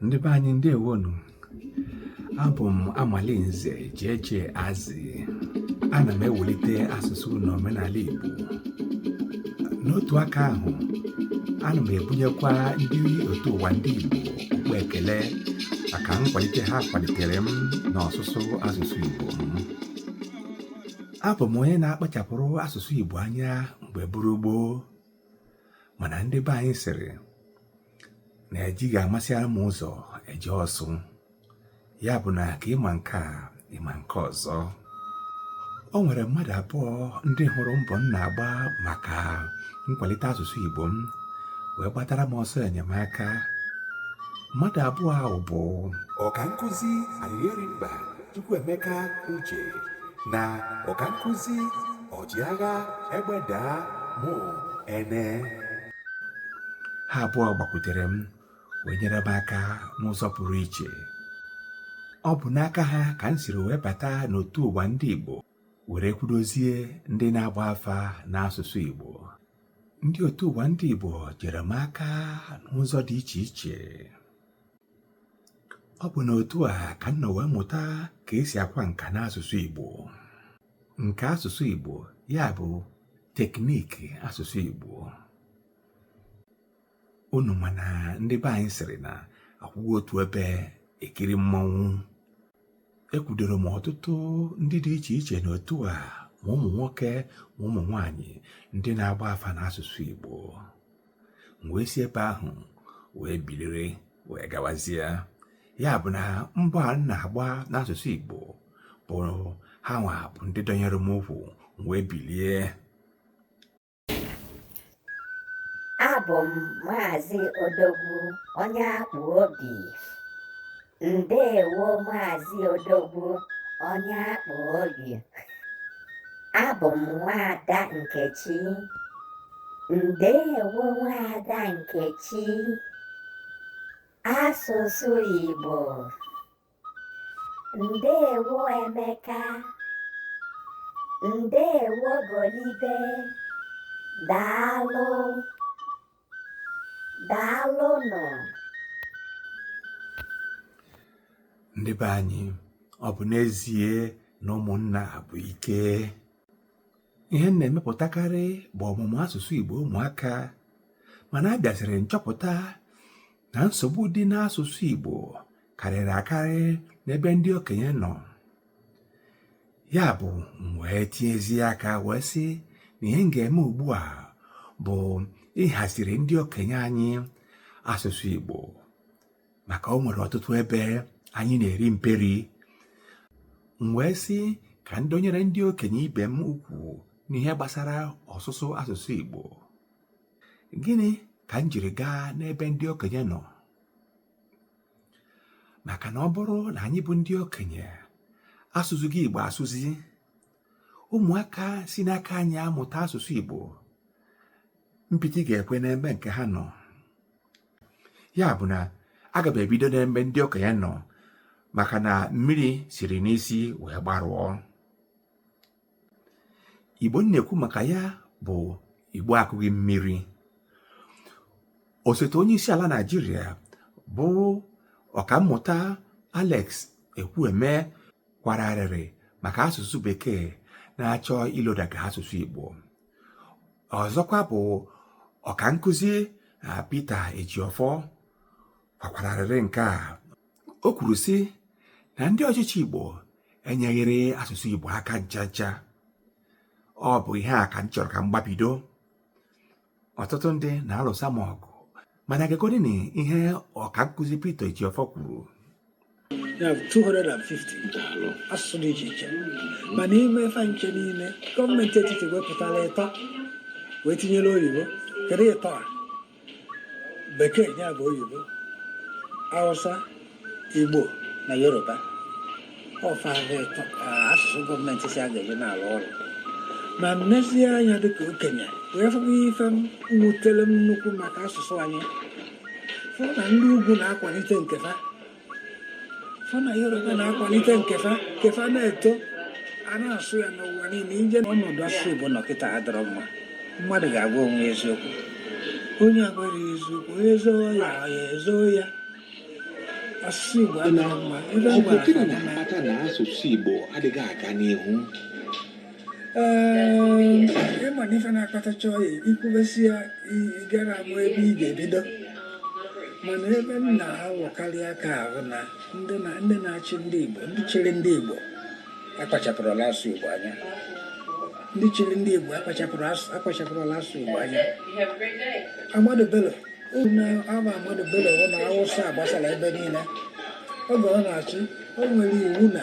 ndị be anyị ndewonu abụ m amalinze jeje azị ana m ewulite asụsụ na omenala igbo n'otu aka ahụ ana m ebunyekwa ndị otu ụwa ndị igbo okpu ekele maka nkwalite ha kwalitere m n'ọsụsụ asụsụ igbo m abụ m onye na-akpachapụrụ asụsụ igbo anya mgbe bụrụ gboo mana ndị be anyị sịrị na ejighị amasịara m ụzọ eje ọsụ ya bụ na ka ịma nke a ịma nke ọzọ o nwere mmadụ abụọ ndị hụrụ mbọ m na-agba maka nkwalite asụsụ Igbo m wee gbatara m ọsọ enyemaka mmadụ abụọ ahụ bụ ọkankụzi Arịrịmba Chukwuemeka Uche na ọkankụzi ọchịagha egbe daa mụ ene ha abụọ gbakwutere m wee nyere m aka n'ụzọ pụrụ iche ọ bụ n'aka ha ka m siri wee bata n'otu ụwa ndị Igbo were kwudozie ndị na-agba afa n'asụsụ Igbo ndị otu ụwa ndị Igbo jere m aka n'ụzọ dị iche iche ọ bụ n'otu a ka m nọ wee mụta ka e si akwa nka n'asụsụ Igbo nke asụsụ Igbo ya bụ tekniki asụsụ Igbo unu ma na ndị be anyị sịrị na akwụghị otu ebe ekiri mmanwụ ekwudoro m ọtụtụ ndị dị iche iche n'otu a ma ụmụ nwoke ma ụmụ nwanyị ndị na-agba afa n'asụsụ Igbo m wee si ebe ahụ wee biliri wee gawazie ya bụ na mbọ a m na-agba n'asụsụ Igbo bụ ha nwa bụ ndị dọnyere m ukwu wee bilie abụ m maazị odogwu onye akpụ obi Ndewo Maazị Odogwu onye akpụ obi. Abụ m nwaada Nkechi. Ndewo nwaada Nkechi. Asụsụ Igbo. Ndewo Emeka. Ndewo Golibe. Daalụ. daalụnụ ndị be anyị ọ bụ n'ezie na ụmụnna bụ ike ihe m na-emepụtakarị bụ ọmụmụ asụsụ Igbo ụmụaka mana abịaziri m chọpụta na nsogbu dị n'asụsụ Igbo karịrị akarị n'ebe ndị okenye nọ ya bụ m wee tinyezi aka wee sị na ihe m ga-eme ugbu a bụ ịhaziri ndị okenye anyị asụsụ Igbo maka o nwere ọtụtụ ebe anyị na-eri mperi m wee sị ka m dọnyere ndị okenye ibe m ukwu n'ihe gbasara ọsụsụ asụsụ Igbo gịnị ka m jiri gaa n'ebe ndị okenye nọ maka na ọ bụrụ na anyị bụ ndị okenye asụzighị Igbo asụzi ụmụaka si n'aka anyị amụta asụsụ Igbo mpịtị ga-ekwe n'ebe nke ha nọ ya bụ na aga m ebido n'ebe ndị okenye nọ maka na mmiri siri n'isi wee gbarụọ igbo na-ekwu maka ya bụ igbo akụghị mmiri osote onye isi ala naijiria bụ ọkammụta alex ekwueme kwara arịrị maka asụsụ bekee na-achọ ilodaga asụsụ igbo ọzọkwa bụ ọkankụzi ah, peter ejiọfọ kwakwara arịrị nke a o kwuru sị na ndị ọchịchị Igbo enyeghịrị asụsụ Igbo aka ncha ncha ọ bụ ihe a ka m chọrọ ka m gbabido ọtụtụ ndị na-alụsa m ọgụ mana gegodini ihe ọkankụzi Peter Ejiofor kwuru ya bụ 250 asụsụ dị iche iche ma n'ime ife ncha niile gọọmenti etiti wepụtara ịtọ wee tinyere oyibo kedu ịtọ a bekee ya bụ oyibo hausa igbo na yoruba ọ fa ịtọ asụsụ gọọmenti si a ga-eji na-alụ ọrụ ma m nezie anya dịka okenye wee fụkwa ife wutere m nnukwu maka asụsụ anyị fụ na ndị ugwu na-akwalite nke ha fa na yoruba na-akwalite nke fa nke fa na-eto a na-asụ ya n'ụwa niile ije ọnọdụ asụsụ igbo nọ kịta adịrọ mma mmadụ ga-agwa onwe eziokwu onye agwara ya eziokwu onye zoo ọya ọya ezoo ya asụsụ igbo adịrọ mma ọ bụ gịnị na-akpata na asụsụ igbo adịghị aga n'ihu ị ma na ife na-akpata ị chọọ ikwubesi ya ị garọ ama ebe ị ga-ebido mana ebe m na-awọkarị aka ahụ na ndị na-achị ndị Igbo ndị chịrị ndị Igbo akpachapụrọlụ asụsụ Igbo anya ndị chịrị ndị Igbo akpachapụrọlụ asụsụ Igbo anya Ahmadu Bello na ama Ahmadu Bello na Awụsa gbasara ebe niile oge ọ na-achị o nwere iwu na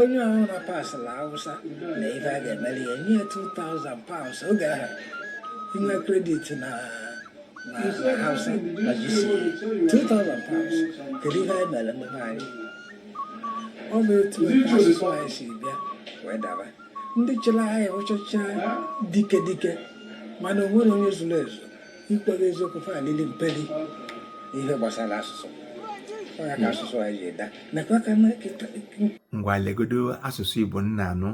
onye ahụ na pasịla awụsa na ife a ga-emeli ya nye 2000 pounds oge ahụ i nwee credit na na hausa na gce 2000 pounds kedu ihe anyị mere ndị be anyị ọ bụ etu asụsụ anyị si bịa wee daba ndị chịrị anyị bụchacha dike dike mana o nwere onye zuru ezu ikwu gị eziokwu fa lili mperi ihe gbasara asụsụ ọ ya ka hmm. asụsụ anyị ji eda nakwa ka ngwa legodo asụsụ igbo nna anụ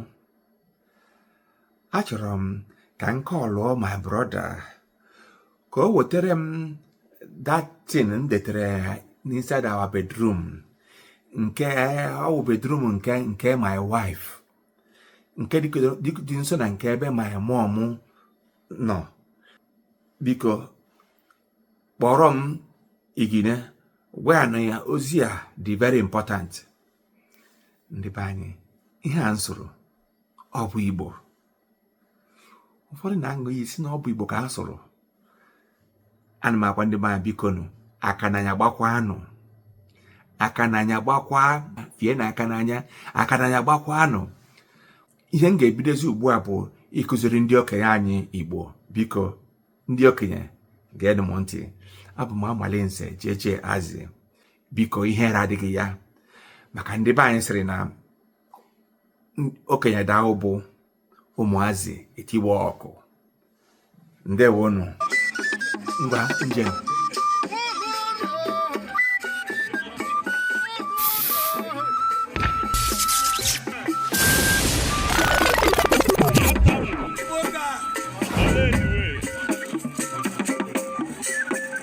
achọrọ m ka m kọlụọ my brother ka o wetara m that thing m detere inside our bedroom nke ọ wụ bedroom nke my wife nke dị nso na nke ebe my mom nọ biko kpọrọ m igine gwa ya na ya ozi a dị very important ndị be anyị ihe a m sụrụ ọ bụ igbo ụfọdụ na-aṅụ iyi si na ọ bụ igbo ka a sụrụ ana m agwa ndị be anyị bikonụ aka n'anya gbakwanụ aka n'anya gbakwa fie na aka n'anya aka n'anya gbakwanụ ihe m ga-ebidozi ugbu a bụ ịkụziri ndị okenye anyị igbo biko ndị okenye geenụ m ntị abụ m amalinze jeje azi biko ihere adịghị ya maka ndị be anyị sịrị na okenye daa ụbụ ụmụazị etiwe ọkụ ndewonụ ngwa njem